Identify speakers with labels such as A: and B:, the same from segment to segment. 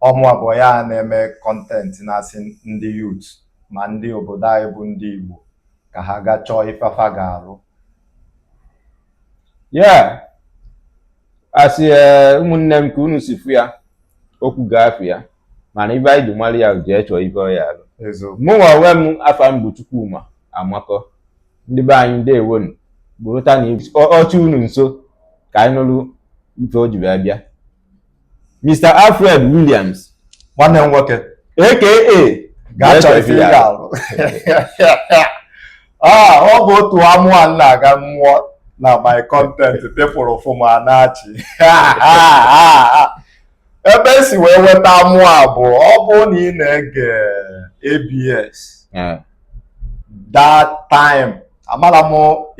A: ọ bụ ya bụ onye a na-eme kọntentị na-asị ndị yut ma ndị obodo anyị bụ ndị Igbo ka ha gaa chọọ ife fa ga-arụ
B: yeah asị eh, ụmụnne m ka unu si fụ ya okwu ga-afụ ya mana ife anyị ji mara ya jee chọọ ife ị ya-alụ mụnwa onwe m afa m bụ Chukwuma Amakọ ndị be anyị ndewonu burutanụ oche unu nso ka anyị nụrụ ife o ji bịa ebe a Mr. Alfred Williams nwanne m
A: nwoke
B: aka gaa chọọ ife
A: ị ya-alụ ah, ọ bụ otu amụ a m na-aga m mụọ na my content people fụ m a na-achị ebe e si wee nweta amụ a bụ ọ bụ na ị na-ege ABS that time amara m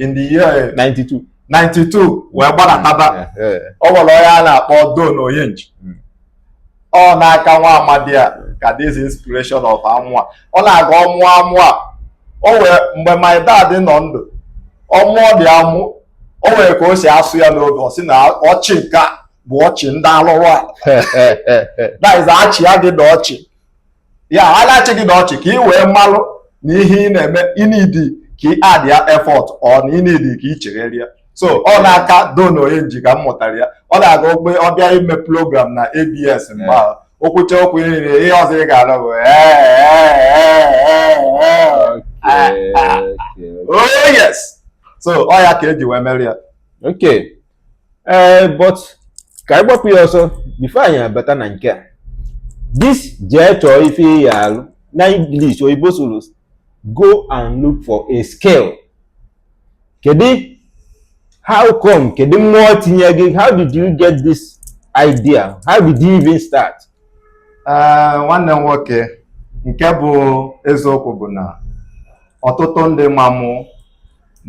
A: in the year 92 92 wee gbadataba ọ nwere onye a na-akpọ Don Onyenji hmm. ọ n'aka nwa amadi a ka this inspiration of amụ a ọ na-aga ọ mụọ amụ a o nwee mgbe my dad nọ ndụ ọ mụọ ụdị amụ o nwere ka o si asụ ya n'oge ọ sị na ọchị nke a bụ ọchị ndị alụrụ a that is a chịa gị na ọchị ya a na-achị gị na ọchị ka ị wee malụ na ihe ị na-eme i need ka ị add ya effort or na i need ka ị chegharịa so ọ n'aka Don Onyenji ka m mụtara ya ọ na-aga mgbe ọ bịa ime program na ABS mgbe ahụ o kwuchaa okwu niile ihe ọzọ ị ga-anụ bụ oh yes so ọ ya ka e ji wee mere ya okay
B: ee eh, but ka anyị gbapụ ya ọsọ bifo anyị abata na nke a this jee chọọ ife ị ya-alụ na English oyibo sụrụ go and look for a skill kedu how come kedu mmụọ tinye gị how did you get this idea how did you even start
A: eh, nwanne m nwoke nke bụ eziokwu bụ na ọtụtụ ndị ma mụ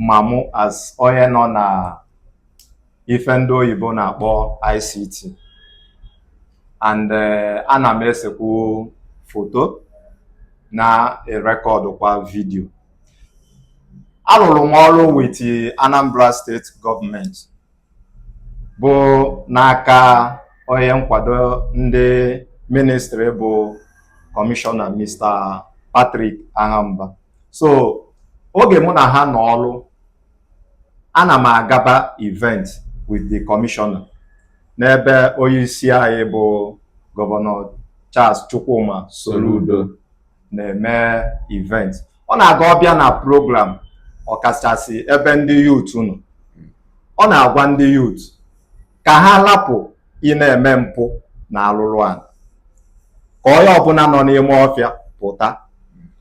A: ma mụ as onye nọ na ife ndị oyibo na-akpọ ICT and eh, ana m esekwu foto na-erekọdụ kwa vidio arụrụ m ọrụ wit Anambra steeti gọọmenti bụ n'aka onye nkwado ndị ministri bụ kọmishọna Mr. Patrick Aghamba so oge mụ na ha nọ ọrụ Ana m agaba event with the commissioner n'ebe onye isi anyị bụ gọvanọ Charles Chukwuma Soludo na-eme event ọ na-aga ọ bịa na program ọkachasị ebe ndị yut nọ ọ na-agwa ndị yut ka ha lapụ ị na-eme mpụ na alụlụ ana ka onye ọbụla nọ n'ime ọfịa pụta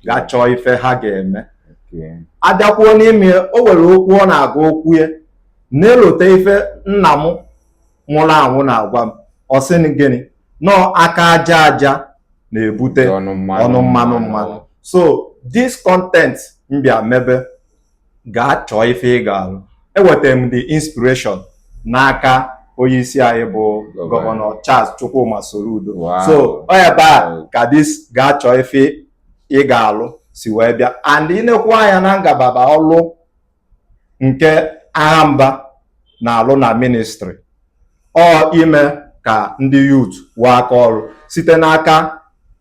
A: ga chọọ ife ha ga-eme abịakwuo n'ime o nwere okwu ọ na-aga okwu ya na-elote ife nna m nwụrụ anwụ na-agwa m ọ sị m gịnị na ọ aka aja aja na-ebute ọnụ mmanụ mmanụ so this content m bịa mebe gaa chọọ ife ị ga-alụ enwetara m the inspiration n'aka onye isi anyị bụ Gọvanọ Charles Chukwuma Soludo Wow. so ọ ebe a ka this gaa chọọ ife ị ga-alụ si wee bịa and i nekwu anya na ngalaba ọlụ nke Agha Mba na-alụ na ministry ọ ime ka ndị youth nwee aka ọrụ site n'aka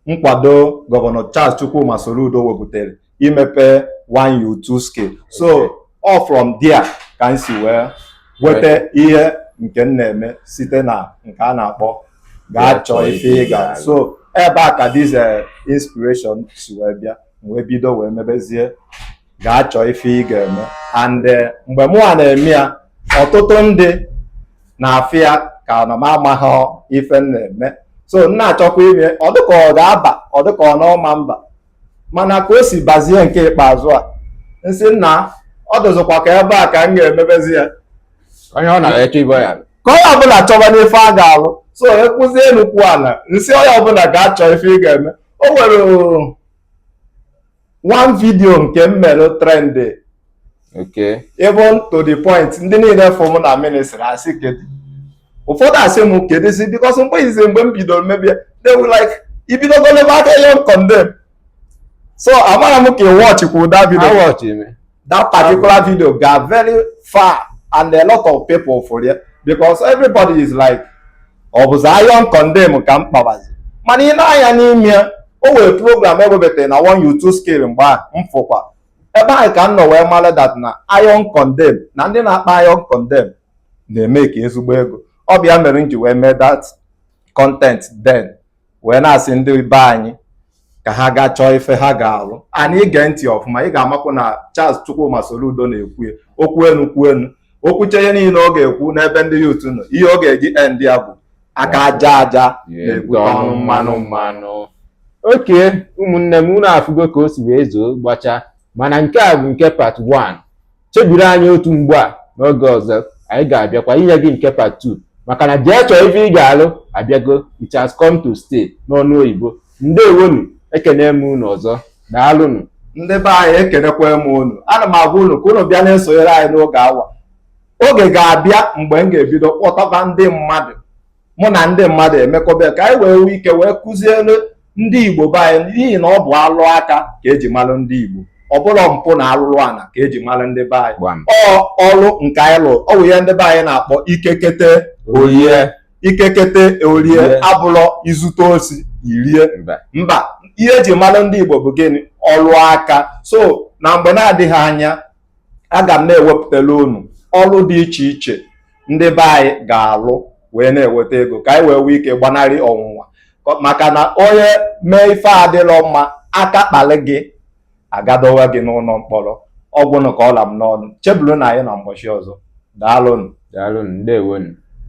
A: nkwado gọvanọ Charles Chukwuma Soludo wepụtara imepe one youth two skill so ọ from there ka m si wee weta ihe nke m na-eme site na nke a na-akpọ gaa chọọ ife ị ga so ebe a ka this eh, inspiration si wee bịa m wee bido wee mebezie gaa chọọ ife ị ga-eme and eh, mgbe mụnwa na-eme ya ọtụtụ ndị na-afụ ya ka na m amaghị ife m na-eme so m na-achọkwa ime ọ dịka ọ ga-aba ọ dịka ọ na ọ ma aba mana ka o si bazie nke ikpeazụ a m sị nna ọ dịzịkwa ka ebe a ka m ga-emebezi ya onye
B: ọ na-eche ibe ya ka onye ọbụla
A: chọba n'ife a ga-alụ so ekwuzie enu kwuo ana m sị onye ọbụla gaa chọọ ife ị ga-eme o nwere one video nke m mere
B: trend okay even to
A: the point ndị niile fụ m na ministry asị kedu ụfọdụ asị m kedụzi because mgbe izi mgbe m bidoro mebe ya they were like i bidogo lebe aka iron condemn so amarọ m ka ị watchịkwu that video A watchị m. that particular video gara very far and a lot of people fụrụ ya because everybody is like ọ bụzi iron condemn ka m kpabazi mana i nee anya n'ime ya o nwere program e webata na one youth two skill mgbe a m fụkwa ebe ahụ ka m nọ wee mara that na iron condemn na ndị na-akpa iron condemn na-emeka ezigbo ego ọ bụ ya mere m ji wee mee that content then wee na-asị ndị be anyị ka ha gaa chọọ ife ha ga-alụ and i gee ntị ọfụma ị ga-amakwu na Charles Chukwuma Soludo na-ekwu okwu enu kwuo enu o kwuchaa ihe niile ọ ga-ekwu n'ebe ndị youth nọ ihe ọ ga-eji end ya bụ aka aja aja na-ebute ọnụ mmanụ mmanụ
B: okay ụmụnne m unu afụgo ka o si wee zoo gbachaa mana nke a bụ nke part 1 chebiri anyị otu mgbe a n'oge ọzọ anyị ga-abịakwa inye gị nke part 2 maka na jee chọọ ife ị ga-alụ abịago it has come to stay n'ọnụ oyibo ndewonu ekene m unu ọzọ daalụnụ ndị be anyị
A: ekenekwa m unu ana m agwa unu ka unu bịa na-esonyere anyị n'oge awa oge ga-abịa mgbe m ga-ebido kpọtaba ndị mmadụ mụ na ndị mmadụ emekọba ka anyị wee nwee ike wee kụziere ndị Igbo be anyị n'ihi na ọ bụ ọlụ aka ka eji malụ ndị Igbo ọ bụlọ mpụ na alụrụ ana ka eji malụ ndị be anyị ọ ọrụ nke anyị lụrụ ọ bụ ihe ndị be anyị na-akpọ ike kete o rie ike kete o rie abụlọ i zute osi i rie mba ihe eji malụ ndị Igbo bụ gịnị ọrụ aka so na mgbe na-adịghị anya aga m na-ewepụtara unu ọrụ dị iche iche ndị be anyị ga-alụ wee na-eweta ego ka anyị wee nwee ike gbanarị ọnwụnwa maka na onye mee ife adịlọ mma aka kpalị gị a ga-edowe gị n'ụlọ mkpọrọ ọ gwụnụ ka ọ la m n'ọnụ chebulunụ anyị na mgbọchị ọzọ daalụnụ daalụnụ ndewonu